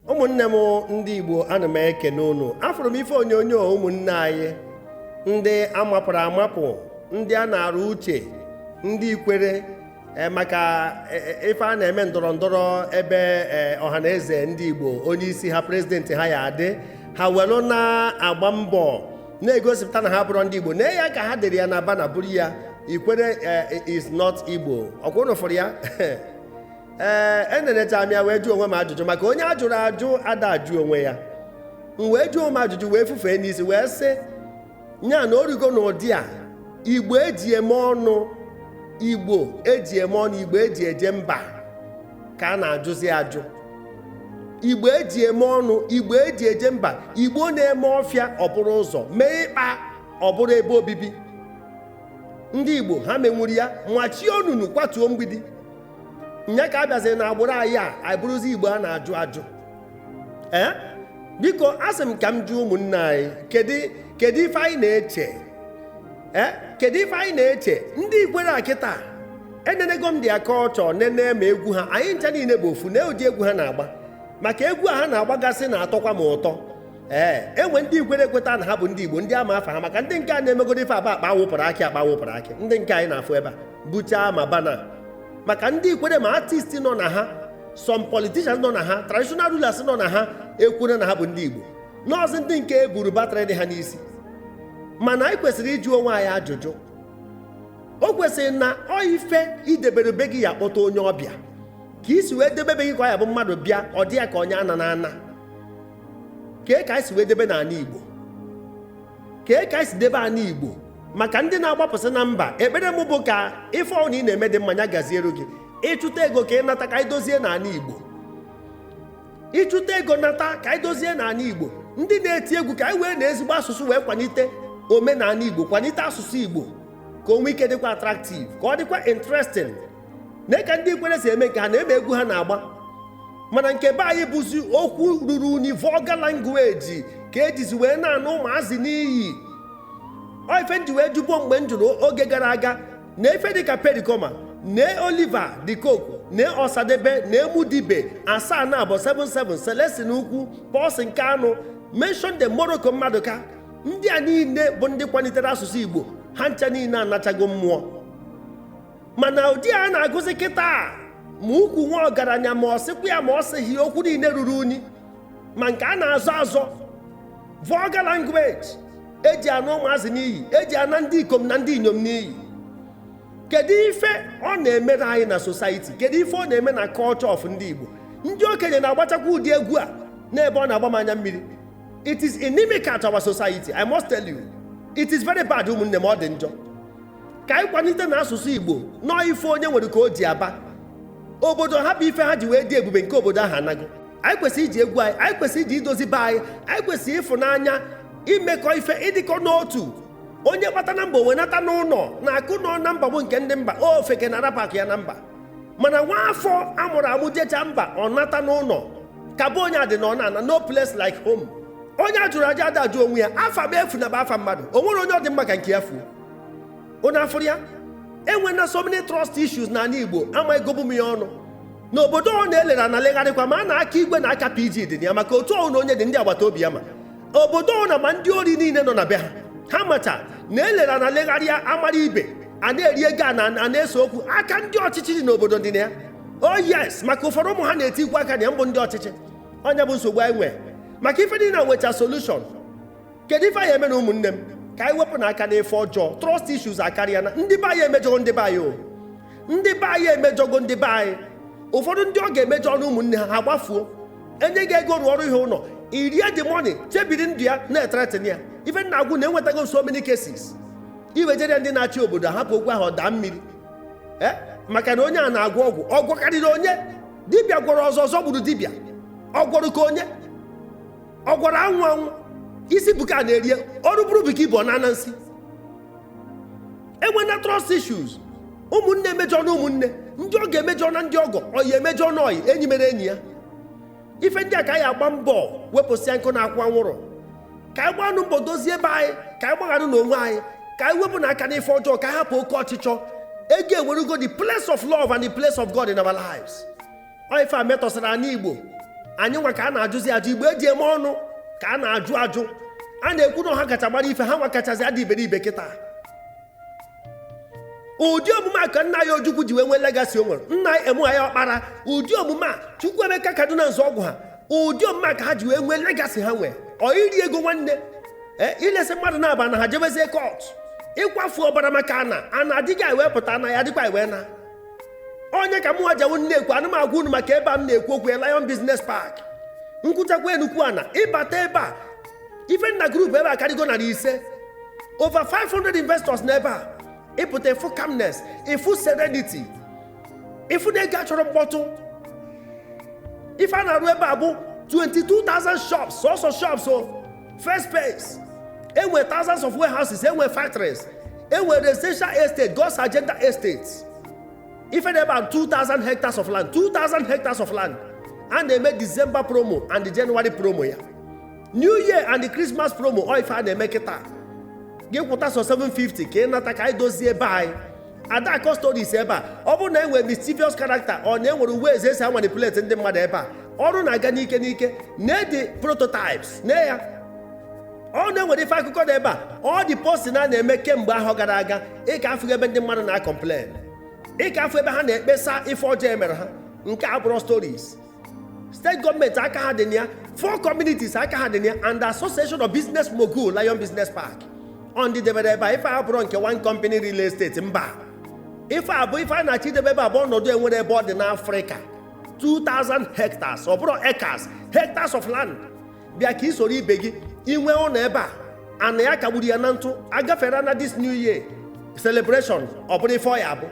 ụmụnne m ndị Igbo ana m ekene unu afụrụ m ife onyonyo ụmụnne anyị ndị amapụrụ amapụ ndị a na-arụ uche ndị ikwere eh, maka eh, eh, ife a na-eme ndọrọ ndọrọ ebe Ọhanaeze ndị Igbo onye isi ha president ha ya adị ha welu na-agba mbọ na-egosipụta na ha bụrọ ndị Igbo nya ka ha dere ya na banner buru ya ikwere is not Igbo ọkwa unu fụrụ ya ee enenecha m ya wee jụọ onwe m ajụjụ maka onye a jụrụ ajụ ada ajụ onwe ya m wee jụọ onwe m ajụjụ wee fufee n'isi wee sị nya na o rugo na ụdị a igbo eji eme ọnụ igbo eji eme ọnụ igbo eji eje mba ka a na-ajụzi ajụ igbo eji eme ọnụ igbo eji eje mba igbo na-eme ọfịa ọ bụrụ ụzọ mee ikpa ọ bụrụ ebe obibi ndị igbo ha menwuru ya machie onunu kwatuo mgbidi nya ka a bịaziri na agbụrụ anyị a bụrụzi igbo a na-ajụ ajụ ee eh? biko asị m ka m jụọ ụmụnne anyị kedu kedu ife anyị na-eche ee eh? kedu ife anyị na-eche ndị ikwere a kịta enenego m their culture nene ma egwu ha anyị ncha niile bụ ofu na ụdị egwu ha na-agba maka egwu a ha na-agbagasị na-atọkwa m ụtọ ee eh, e nwe ndị ikwere kweta na ha bụ ndị igbo ndị a ma afa ha maka ndị nke a na-emegodo ife a bụ akpa wụpụrụ akị akpa wụpụrụ akị ndị nke anyị na-afụ ebe a buchaa ma banner maka ndị ikwere ma artist nọ na ha some politicians nọ na ha traditional rulers nọ na ha ekwere na ha bụ ndị igbo na ọ sọ ndị nke e buru battery dị ha n'isi mana anyị kwesịrị ịjụ onwe anyị ajụjụ o kwesịrị na ọ ife i debere be gị ya-akpọta onye ọbịa ka i si wee debe be gị ka ọ ya-abụ mmadụ bịa ọ dị ya ka ọ nya anana ana kee ka anyị si wee debe n'ana igbo kee ka anyị si debe ana igbo maka ndị na-agbapụsị na mba ekpere m bụ ka ife ọbụna ị na-eme dị mma nya gaziere gị ịchụta ego ka ị nata ka anyị dozie n'ana igbo ịchụta ego nata ka anyị dozie n'ana igbo ndị na-eti egwu ka anyị wee na ezigbo asụsụ wee kwanite omenana igbo kwanite asụsụ igbo ka o nwee ike dịkwa attractive ka ọ dịkwa interesting nee ka ndị ikwere si eme nke ha na-eme egwu ha na-agba mana nke be anyị bụzi okwu ruru unyi vulgar language ka e jizi wee na-ana ụmụazị n'iyi ife m ji wee jụbuo mgbe m jụrụ oge gara aga na ife dịka Pericoma na Oliver de Coque na ọsadebe na Muddy Ibe asaa na abụọ 77 Celestine Ukwu Paulson Kanu mention the Morocco Maduka ndị a niile bụ ndị kwanitere asụsụ igbo ha ncha niile anachago mmụọ mana ụdị a na-agụzi kịta ma ukwu nwa ọgaranya ma ọ sịkwa ya ma ọ sịghị ya okwu niile ruru unyi ma nke a na-azọ azọ vulgar language eji ana ụmụazị n'iyi eji ana ndị ikom na ndị inyom n'iyi kedu ife ọ na-emere anyị na society kedu ife ọ na-eme na culture of ndị Igbo ndị okenye na-agbachakwa ụdị egwu a n'ebe ọ na-agba m anya mmiri it is inimical to our society i must tell you it is very bad ụmụnne m ọ dị njọ ka anyị kwalitenụ asụsụ igbo na ọ ife onye nwere ka o ji aba obodo hapụ ife ha ji wee dị ebube nke obodo ahụ anago anyị kwesịrị iji egwu anyị anyị kwesịrị iji idozi be anyị anyị kwesịrị ịfụnanya imekọ ife ịdịkọ n'otu onye kpata na mba o wenata n'ụnọ na akụ nọ na mba bụ nke ndị mba ofeke na-arapụ akụ ya na mba mana nwa afọ a mụrụ amụ jecha mba ọ nata n'ụnọ ka be onye adịna ọ na-ana no place like home onye a jụrụ ajụ ada ajụ onwe ya Afamefuna bụ afa mmadụ o nwere onye ọ dị mma ka nke ya fuo unu afụrụ ya e nwena so many trust issues n'anị Igbo ama egobu m ya ọnụ n'obodo ọ na elere anya legharịkwa mara na aka igwe na aka PG dị na ya maka otu ọ bụna onye dị ndị agbata obi ya ma obodo ọ bụna ma ndị ori niile nọ na be ha ha macha na elere anya legharịa amara ibe a na-eri ego a na-ese okwu aka ndị ọchịchị dị n'obodo dị na ya o oh yes maka ụfọdụ ụmụ ha na-eti ikwu aka na ya mbụ ndị ọchịchị ọ nya bụ nsogbu anyị nwee maka ife niile nwecha solution kedu ife anyị emenụ ụmụnne m ka anyị wepụnụ aka n'ife ọjọọ trust issues akarịana ndị be anyị emejọgo ndị be anyị o ndị be anyị emejọgo ndị be anyị ụfọdụ ndị ọga emejọọna ụmụnne ha gbafuo e nye gị ego rụọ ọrụ ihe ụlọ i rie the money chebiri ndụ ya na-ethreaten ya ife m na-agwa unu enwetago so many cases i wejere ndị na-achị obodo a hapụ okwu ahụ ọ daa mmiri eh? maka na onye a na-agwọ ọgwụ ọ gwọkarịrị onye dibịa gwọrọ ọzọ ọzọ gburu dibịa ọ gwọrọ ka onye ọ gwọrọ anwụ anwụ isi buka a na-erie ọrụ bụrụ bika ibu ọ na-ana nsi e nwena trust issues ụmụnne emejọọna ụmụnne ndị ọgọ emejọọna ndị ọgọ ọyị emejọọna ọyị enyi mere enyi ya ife ndị a ka anyị ga-agba mbọ wepụsịa nkụ na-akwụ anwụrụ ka anyị gbanụ mbọ dozie be anyị ka anyị gbagharụnụ onwe anyị ka anyị wepụnụ aka n'ife ọjọọ ka anyị hapụ oke ọchịchọ ego ewerugo the place of love and the place of God in our lives ife a metọsịrị anyị igbo anyị nwa ka a na-ajụzi ajụ igbo eji eme ọnụ ka a na-ajụ ajụ a na-ekwu na ọ ha kacha mara ife ha nwa kachazi adị iberibe kịta ụdị omume a ka nna anyị Ojukwu ji wee nwee legacy o nwere nna anyị M.I. Ọkpara ụdị omume a Chukwuemeka Kaduna Nzeogwu ha ụdị omume a ka ha ji wee nwee legacy ha nwee ọ iri ego nwanne ị, ilesi mmadụ naabọ ana ha jebezie court ịkwafu ọbara maka ana ana adịghị ewepụta na ya dịkwa iwe na onye ka mụnwa jawo na-ekwu ana m agwa unu maka ebe a m na-ekwu okwu ya Lion Business Park nkwụchakwa nnukwu ana ị bata ebe a ife na group ebe a karịgo narị ise over 500 investors na ebe a ị pụta ị fụ calmness ị fụ serenity ị fụ na ego achọrọ mkpọtụ ife a na-arụ ebe a bụ 22,000 shops sọsọ shops o first place enwe thousands of warehouses enwe factories enwe residential estate God's agenda estates ife dị ebe a 2000 hectares of land 2000 hectares of land a na-eme December promo and January promo ya New Year and Christmas promo ọ ife a na-eme kịta gị kwụta sọ 750 ka ị nata ka anyị dozie be anyị ada akọ stories ebe a ọ bụrọ na e nwere mischievous character or na enwere ways esi amanipulate ndị mmadụ ebe a ọrụ na-aga n'ike n'ike nee the prototypes nee ya ọ na-enwere ife akụkọ dị ebe a all the posting a na-eme kemgbe ahọ gara aga ị ka afụ ebe ndị mmadụ na-acomplain ị ka afụ ebe ha na-ekpesa ife ọjọọ emere ha nke a abụrọ stories state government aka ha dị na ya four communities aka ha dị na ya and the association of business mogul Lion Business Park ọ ndị debere ebe a ife a abụrọ nke one company real estate mba ife a bụ ife a na-achọ idebe ebe a bụ ọnọdụ enwerọ ebe ọ dị n'Afrịka 2000 hectares ọ bụrọ acres hectares of land bịa ka ị soro ibe gị nwee ụnọ ebe a ana ya kagburu ya na ntụ agafere na this new year celebration ọ bụrụ ife ọ ya abụ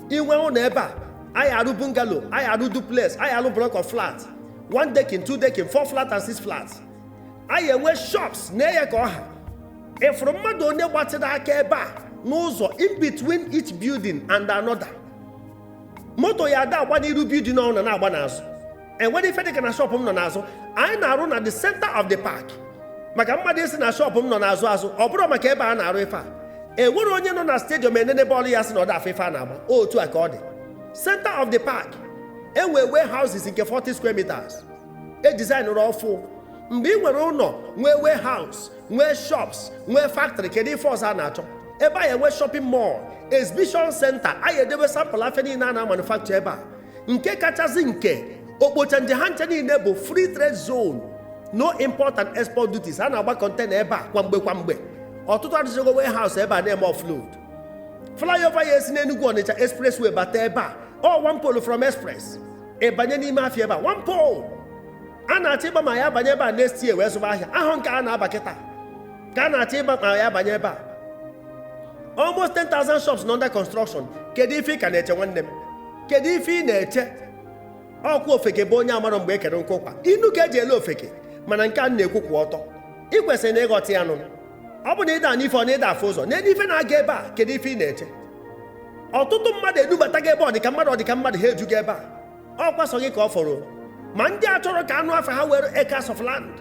ị nwee ụnọ ebe a a ya arụ bungalow a ya arụ duplex a ya arụ block of flat one decking two decking four flat and six flat anyị enwe shops nee ya ka ọ ha ị fụrụ mmadụ onye gbatịrị aka ebe a n'ụzọ in between each building and another moto ya ada agba n'iru building ọhụrụ na-agba n'azụ enwerọ ife dịka na shọpụ m nọ n'azụ anyị na-arụ na the center of the park maka mmadụ ịsị na shọpụ m nọ n'azụ azụ ọ bụrọ maka ebe a na-arụ ife a enwerọ onye nọ na stadium enene bọọlụ ya asị na ọ da afụ ife a na-agba otu a ka ọ dị center of the park enwe warehouses nke 40 square meters e dizaịnụrụ ọfụ mgbe ị nwere ụnọ nwee warehouse nwee shops nwee factory kedu ife ọzọ a na-achọ ebe anyị enwe shopping mall exhibition center anyị edebe sampụl afịa niile a na-amanufacture ebe a nke kachasị nke okpocha nje ha ncha niile bụ free trade zone no import and export duties a na-agba container ebe a kwa mgbe kwa mgbe ọtụtụ arụzigo warehouse ebe a na-eme offload flyover ya esi n'Enugu Ọnịcha expressway bata ebe a ọ one pole from express ịbanye n'ime afịa ebe a one pole a na-achọ ịgba ma ya abanye ebe a next year wee zụba ahịa ahọ nke a na-aba kịta ka a na-achọ ịbakpa ya banye ebe a almost 10,000 shops nọ under construction kedu ife ị ka na-eche nwanne m kedu ife ị na-eche ọkwa ofeke bụ onye amarọ mgbe e kere nkụ ụkwa inu ka eji ele ofeke mana nke a na-ekwu kwụ ọtọ ị kwesịrị na ịghọta ya nụ ọ bụ na ịda anụ ife ọ na ịda afụ ụzọ na-ene ife na-aga ebe a kedu ife ị na-eche ọtụtụ mmadụ enubatago ebe ọdịka mmadụ ọdịka mmadụ ha ejugo ebe a ọkwa sọ gị ka ọ fọrọ ma ndị achọrọ ka a nụ afa ha were acres of land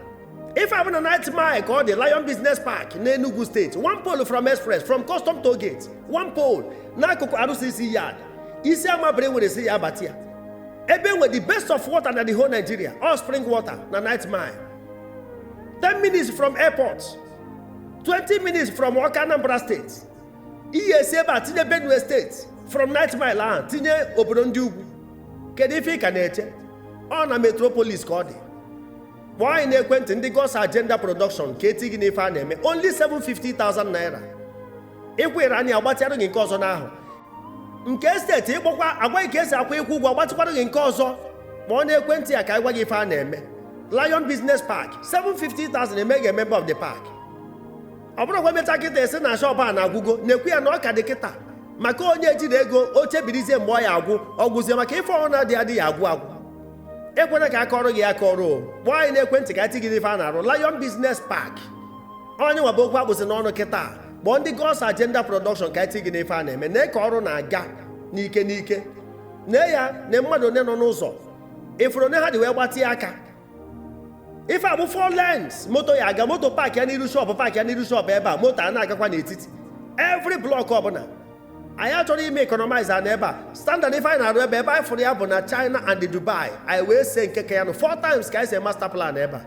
Ife a bụ na 9th Mile ka ọ dị Lion Business Park n'Enugu State, one pole from Express, from Custom Toll Gate, one pole n'akụkụ RCC yard, i si Ama Brewery si ya abata ya. Ebe nwe the best of water na the whole Nigeria, ọ spring water na 9th Mile. 10 minutes from airport, 20 minutes from Ọka Anambra State. I ya esi ebe a tinye Benue State from 9th Mile ahụ tinye obodo ndị ugwu. Kedu ife ị ka na-eche? Ọ na metropolis ka ọ dị. kpọọ anyị n'ekwentị ndị God's Agenda Production ka eti gị n'ife a na-eme only 750,000 naira ịkwere anyị agbatịara gị nke ọzọ n'ahụ nke esteti ịkpọkwa agwa gị ka esi akwụ ịkwụ ụgwọ agbatịkwara gị nke ọzọ kpọọ n'ekwentị ya ka anyị gwa gị ife a na-eme Lion Business Park 750,000 emee gị a member of the park ọ bụrụkwa mecha kịta a sị na shọp a na-agwụgo na-ekwu ya na ọ ka dị kịta maka onye ejiro ego o chebirizie mgbe ọ ya agwụ ọ gwụzie maka ife ọbụna dị adị ya agwụ agwụ ekwena ka akọrọ gị akọrọ o kpọọ anyị n'ekwentị ka anyị ti gị n'ife a na-arụ Lion Business Park ọ nya nwa bụ okwu akpụzi n'ọnụ kịta kpọọ ndị God's Agenda Production ka anyị ti gị n'ife a na-eme nee ka ọrụ na-aga n'ike n'ike nee ya na mmadụ one nọ n'ụzọ i furu one ha dị wee gbatịa aka ife a bụ four lanes moto ya aga moto paakị ya n'iru shọpụ paakị ya n'iru shọpụ ebe a moto a na-agakwa n'etiti every blọk ọbụla anyị achọrọ ime economize na ebe a standard ife anyị na-arụ ebe ebe anyị fụrụ ya bụ na China and Dubai anyị wee see nke ka ya nụ four times ka anyị see master plan ebe a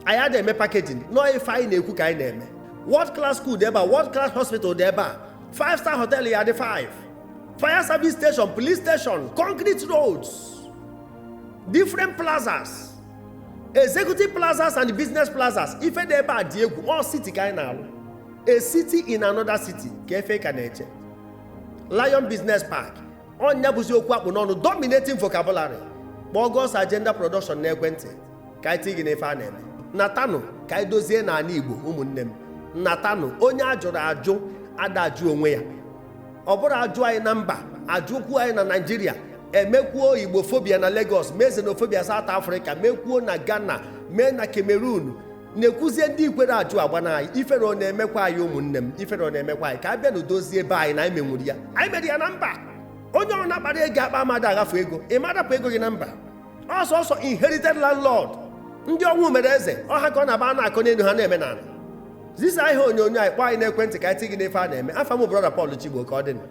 anyị adịghị eme packaging nọọ ife anyị na-ekwu ka anyị na-eme world class school dị ebe a world class hospital dị ebe a five star hotel ya adị five fire service station police station concrete roads different plazas executive plazas and business plazas ife dị ebe a dị egwu ọ city ka anyị na-alụ a city in another city kee ife ị ka na-eche lion business park ọ nya bụzi okwu akpụ n'ọnụ dominating vocabulary kpọọ God's agenda production n'ekwentị ka anyị ti gị n'ife a na-eme natanụ ka anyị dozie n'ana igbo ụmụnne m natanụ onye a jụrụ ajụ ada ajụ onwe ya ọ bụrụ ajụ anyị na mba ajụkwuo anyị na Naịjirịa emekwuo igbofobia na Lagos mee xenophobia South Africa mekwuo na Ghana mee na Cameroon na-ekwuzie ndị Ikwere ajụ agbana anyị ifere ọ na-emekwa anyị ụmụnne m ifere ọ na-emekwa anyị ka a bịanụ dozie ebe anyị na anyị menwuru ya anyị mere ya na mba onye ọ na-akpara ego akpa amadị aghafu ego ị ma dapụ ego gị na mba ọsọ ọsọ inherited landlord ndị ọnwụ mere eze ọ ha ka ọ na-aba na-akọ n'enu ha na-eme n'ala zisa ihe onyonyo anyị kpọọ anyị n'ekwentị ka anyị tii gị n'ife a na-eme afa m brọda Pọl Chigbo ka ọ dị